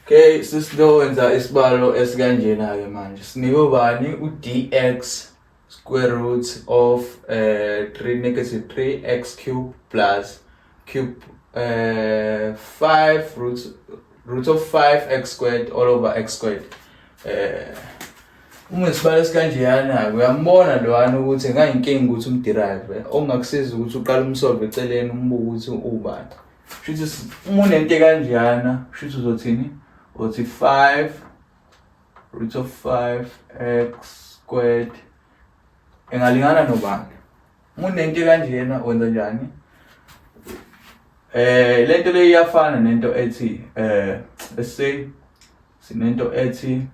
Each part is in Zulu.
Okay, sisilo wenza isibalo esikanjena ke manje. Sinike ubani uDx square root of eh 3 negative 3x cube plus cube eh 5 root root of 5x squared all over x squared. Eh uma isibalo esikanjeyana uyambona lwana ukuthi ngayinkinga ukuthi umderive ongakusiza ukuthi uqale umsolve eceleni umbuke ukuthi ubani. Shuthi s- uma unento ekanjeyana shuthi uzothini uthi 5 root of 5 x squared engalingana nobani uma unento ekanjeyana wenza njani eh lento le iyafana nento ethi eh let's say sinento ethi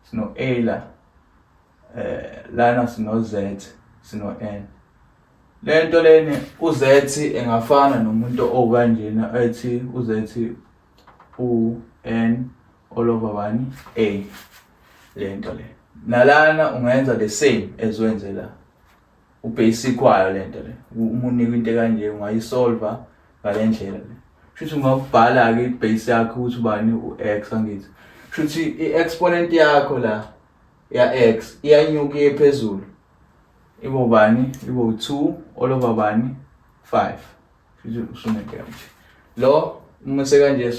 sino a la eh lana sino z sino n Le nto leni uzethi engafana nomuntu owukanjena ethi uzethi u-n all over bani a le nto le nalana ungenza the same as wenze la ubasic wayo le nto le uma unikwa into kanje ungayisolva ngale ndlela le shuthi ungakubhala-ke ibase yakho ukuthi ubani u-x angithi shuthi i-exponent yakho la ya-x iyanyuka iye phezulu Ibo bani? Ibo 2 all over bani? 5. Usunekela nje. Lo uma sekanje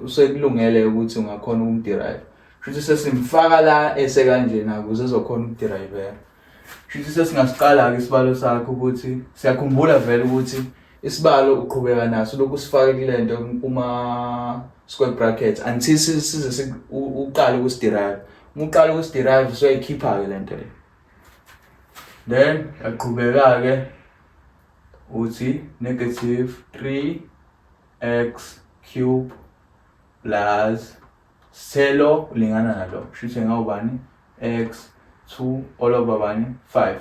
usekulungele ukuthi ungakhona ukumderive. Futhi sesimfaka la esekanje na ukuze ezokhona ukuderive. Futhi sesingasiqala ke isibalo sakho ukuthi siyakhumbula vele ukuthi isibalo uqhubeka naso lokhu sifake kulento kuma square brackets until size uqale ukusiderive. Uma uqala ukusiderive soyikhipha ke lento le. then yaqhubeka-ke uthi negative 3x cube plus selo ulingana nalo kusho ukuthi ngawubani x 2 all over bani 5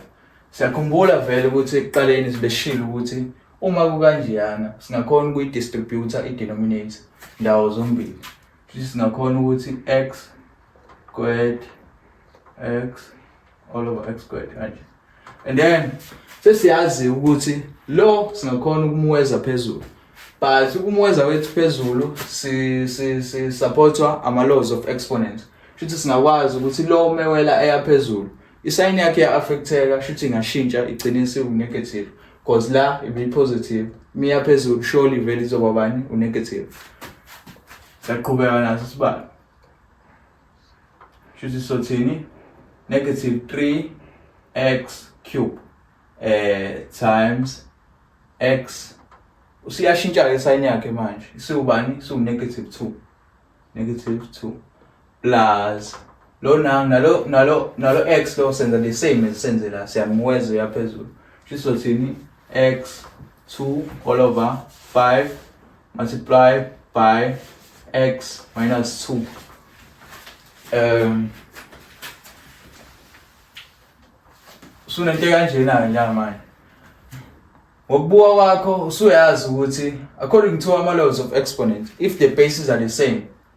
siyakhumbula vele ukuthi ekuqaleni sibeshilo ukuthi uma kukanjeyana singakhona ukuyi-distributor i-denominator ndawo zombili futhi singakhona ukuthi x squared x all over x squared kanje and then sesiyazi ukuthi lo singakhona ukumweza phezulu but ukumweza wethu phezulu si si si supportwa ama laws of exponent shuthi singakwazi ukuthi lo mewela eya phezulu isayini yakhe ya affecteka shuthi ingashintsha igcine isiwu negative because la ibe positive miya phezulu surely vele izoba bani u negative saqhubeka naso sibani shuthi sothini negative 3x cube eh times x usiyashintsha ke sign yakhe manje isiwubani isiwu negative 2 negative 2 plus lo nang nalo nalo nalo x lo senza the same as senze la siyamweza uyaphezulu sizothini x 2 all over 5 multiply by x minus 2 um sunento kanjena nya manje ngokubuka kwakho usuyazi ukuthi according to ama laws of exponent if the bases are the same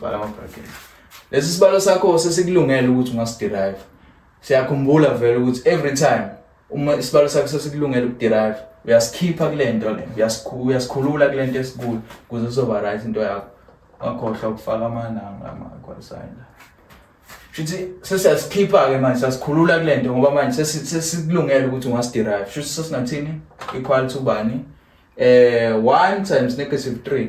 Vala amabhakede. Lesi sibalo sakho sesikulungele ukuthi ungasiderive. Siyakhumbula vele ukuthi every time uma isibalo sakho sesikulungele ukuderive uyasikhipha kule nto le uyasikhulula kule nto esikuyo ukuze sizoba right into yakho wakhohlwa ukufaka amalanga amakwalisayo la shuthi sesiyasikhipha-ke manje sasikhulula kule nto ngoba manje sesikulungele ukuthi ungasiderive shuthi sesinathini equal to bani um one times negative three